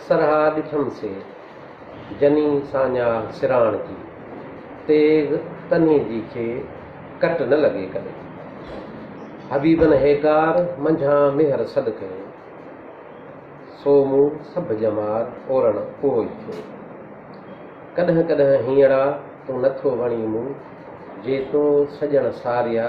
سرها ڏٺم سي، جني ساڃاھ سراڻ جي، تيغ تنھي جي کي، ڪٽ نه لڳي ڪڏھن. حبيبن ھيڪار، منجھان ميھر سڏ ڪيو، سو مون سڀ ڄمار اورڻ اھو ئي ٿيو. ڪڏھن ڪڏھن ھينئڙا تون نٿو وڻين مون، جي تو سڄڻ ساريا،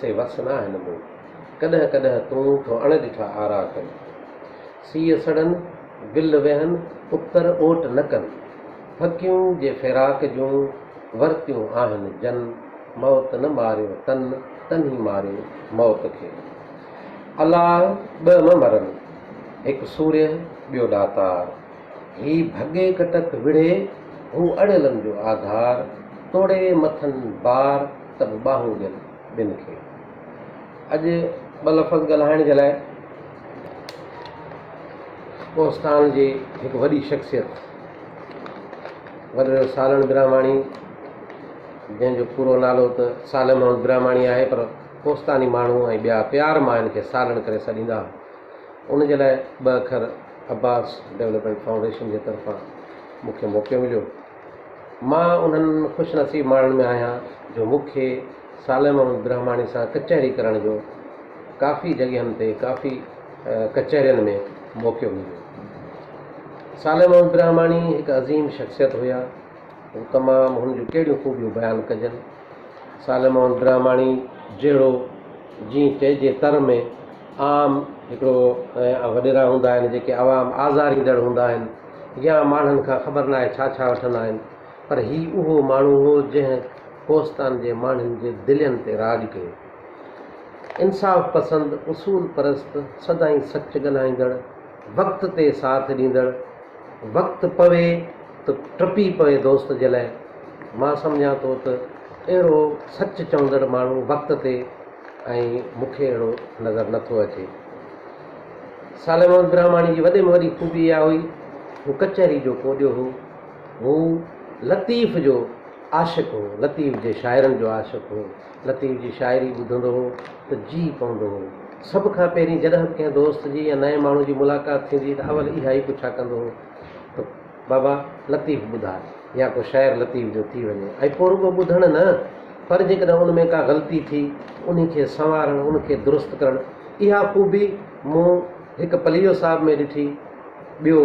سي وس ناھن مون. ڪڏهن ڪڏهن تون ٿو اڻ ڏٺا آرا ڪن. سيء سڙن، گل ويهن، ابتر اوٽ نه ڪن. ڦڪيون جي فراق جون ورتيون آهن جن. موت نه ماريو تن، تن ئي ماريو موت کي. الاهه ٻه م مرن، هڪ سوريه ٻيو ڏاتار. هي ڀڳي ڪٽڪ وڙهي، هو اڙيلن جو آڌار. توڙي مٿن بار ته به ٻانهون ڏين ٻن کي. اڄ ٻه لفظ ڳالهائڻ جي لاء ڪوهستان جي هڪ وڏي شخصيت وڏڙو سالڻ براهماڻي جنهن جو پورو نالو ته صالح محمد براهماڻي آهي پر ڪوهستاني ماڻهو ۽ ٻيا پيار مان هن کي سالڻ ڪري سڏيندا ان جي لاء ٻه اکر عباس ڊيولپمينٽ فائونڊيشن جي طرفان مون کي موقعو مليو مان انهن خوش نصيب ماڻهن ۾ آهيان جو مون کي صالح محمد برهماڻي سان ڪچهري ڪرڻ جو ڪافي جڳهين تي ڪافي ڪچهرين ۾ موقعو مليو. صالح محمد برهماڻي هڪ عظيم شخصيت هيا هو تمام هن جون ڪهڙيون خوبيون بيان ڪجن صالح محمد برهماڻي جهڙو جي چئجي تر ۾ عام هڪڙو وڏيرا هوندا آهن جيڪي عوام آزاريندڙ هوندا آهن يا ماڻهن کان خبر ناهي ڇا ڇا وٺندا آهن پر هي اهو ماڻهو هو جنهن ڪوهستان جي ماڻهن جي دلين تي راڄ ڪيو. انصاف پسند، اصول پرست، سدائين سچ ڳالهائيندڙ، وقت تي ساٿ ڏيندڙ، وقت پوي ته ٽپي پوي دوست جي لاء مان سمجهان ٿو ته اهڙو سچ چوندڙ ماڻهو وقت تي ۽ مون کي اهڙو نظر نه ٿو اچي. صالح محمد براهماڻي جي وڏي ۾ وڏي خوبي اها هئي هو ڪچهري جو ڪوڏيو هو. هو لطيف جو عاشق هو، لطيف جي شاعرن جو عاشق هو، لطيف جي شاعري ٻڌندو هو ته جيء پوندو هو. سڀ کان پهرين جڏهن به ڪنهن دوست جي يا نئين ماڻهو جي ملاقات ٿيندي هئي ته اول اها ئي پڇا ڪندو هو ته بابا لطيف ٻڌاء يا ڪو شعر لطيف جو ٿي وڃي ۽ پوء رڳو ٻڌڻ نه پر جيڪڏهن ان ۾ ڪا غلطي ٿي انهي کي سنوارڻ ان کي درست ڪرڻ اها خوبي مون هڪ پليجو صاحب ۾ ڏٺي ٻيو،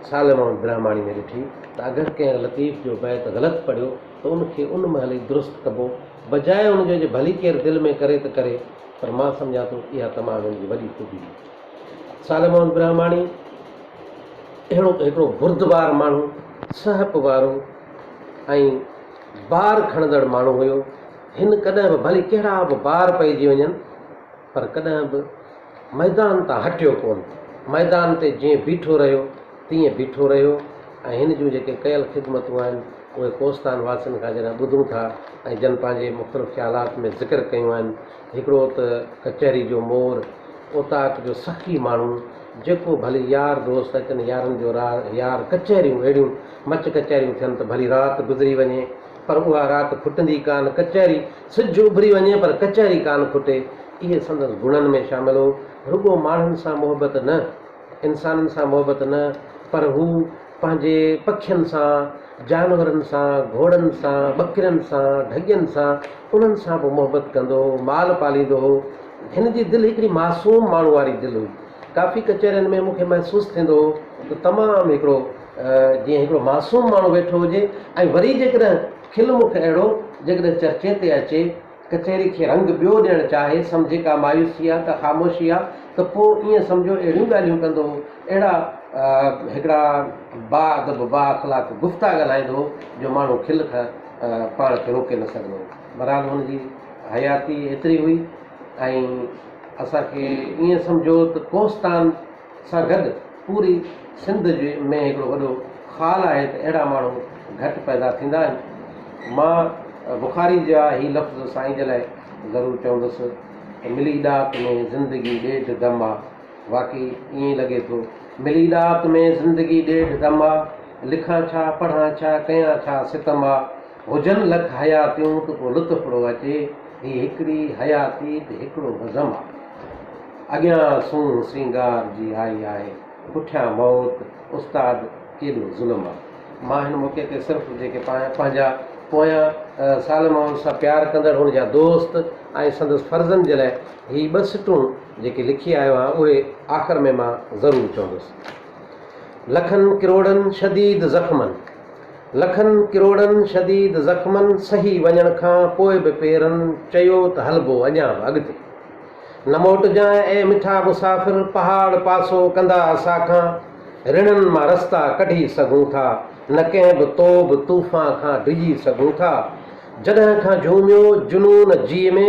سال محمد برهماڻي ۾ ڏٺي ته اگر ڪنهن لطيف جو بيت غلط پڙهيو ته ان کي ان مهل ئي درست ڪبو، بجاء ان جو جي ڀلي ڪير دل ۾ ڪري ته ڪري، پر مان سمجهان ٿو اها تمام هن جي وڏي خوبي هئي. سال محمد برهماڻي اهڙو هڪڙو بردبار ماڻهو، سهپ وارو ۽ بار کڻندڙ ماڻهو هيو، هن ڪڏهن به ڀلي ڪهڙا به بار پئجي وڃن، پر ڪڏهن به ميدان تان هٽيو ڪونه. ميدان تي جيئن بيٺو رهيو، تيئن بيٺو رهيو ۽ هن جون جيڪي ڪيل خدمتون آهن، اهي ڪوستان واسين کان جڏهن ٻڌون ٿا ۽ جن پنهنجي مختلف خيالات ۾ ذڪر ڪيون آهن، هڪڙو ته ڪچهري جو مور، اوطاق جو سخي ماڻهو، جيڪو ڀلي يار دوست اچن، يارن جو راء، يار ڪچهريون اهڙيون مچ ڪچهريون ٿين ته ڀلي رات گذري وڃي، پر اها رات ڦٽندي ڪانه، ڪچهري. سج اڀري وڃي پر ڪچهري ڪانه کوٽي، اهي سندس گڻن ۾ شامل هو. رڳو ماڻهن سان محبت نه، انسانن سان محبت نه، پر هو پنهنجي پکين سان، جانورن سان، گهوڙن سان، ٻڪرين سان، ڍڳين سان، انهن سان به محبت ڪندو هو، مال پاليندو هو. هن جي دل هڪڙي معصوم ماڻهو واري دل هئي. ڪافي ڪچهرين ۾ مون کي محسوس ٿيندو هو ته تمام هڪڙو جيئن هڪڙو معصوم ماڻهو ويٺو هجي ۽ وري جيڪڏهن کل مک اهڙو جيڪڏهن چرچي تي اچي، ڪچهري کي رنگ ٻيو ڏيڻ چاهي، سمجهي ڪا مايوسي آ، ڪا خاموشي آ ته پوء ائين سمجهو اهڙيون ڳالهيون ڪندو هو، اهڙا هڪڙا با ادب، با اخلاق گفتا ڳالهائيندو هو جو ماڻهو کل کان پاڻ کي روڪي نه سگهندو هو. بهرحال هن جي حياتي ايتري هئي ۽ اسان کي ائين سمجهو ته ڪوهستان، سان گڏ پوري سنڌ جي ۾ هڪڙو وڏو خال آهي ته اهڙا ماڻهو گهٽ پيدا ٿيندا آهن. مان بخاري جا هي لفظ سائين جي لاء ضرور چوندس ته ملي ڏات ۾ زندگي ڏيڍ دم آ. واقعي ائين ئي لڳي ٿو. ملي ڏات ۾ زندگي ڏيڍ دم آ. لکان ڇا، پڙهان ڇا، ڪيان ڇا ستم آ. هجن لک حياتيون ته پوء لطف پڙو اچي، هي هڪڙي حياتي ته هڪڙو بزم آ. اڳيان سونهن سينگار جي آئي آهي، پٺيان موت، استاد ڪيڏو ظلم آ. مان هن موقعي تي صرف جيڪي پنهنجا پويان سال مان ان سان پيار ڪندڙ ان جا دوست ۽ سندس فرزند جي لاء هي ٻه سٽون جيڪي لکي آيو آهيان اهي آخر ۾ مان ضرور چوندس. لکن ڪروڙن شديد زخمن. لکن ڪروڙن شديد زخمن سهي وڃڻ کان پوء به پيرن چيو ته هلبو اڃا به اڳتي. نه موٽجانء اي مٺا مسافر پهاڙ پاسو ڪندا اسان کان رڻن مان رستا ڪڍي سگهون ٿا نه ڪنهن به توب طوفان کان ڊڄي سگهون ٿا جڏهن کان جهوميو جنون جيء ۾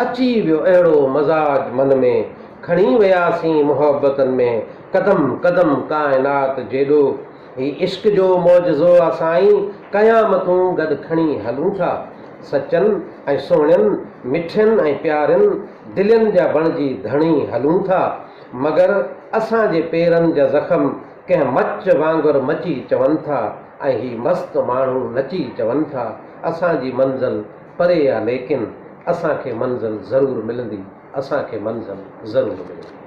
اچي ويو اهڙو مزاج من ۾ کڻي وياسين محبتن ۾ قدم قدم ڪائنات جيڏو هي عشق جو معجزو آ سائين، قيامتون گڏ کڻي هلون ٿا. سچن ۽ سهڻين، مٺين ۽ پيارين دلين جا بڻجي ڌڻي هلون ٿا. مگر اسان جي پيرن جا زخم ڪنهن مچ وانگر مچي چون ٿا ۽ هي مست ماڻهو نچي چون ٿا. اسان جي منزل پري آ ليڪن اسان کي منزل ضرور ملندي، اسان کي منزل ضرور ملندي.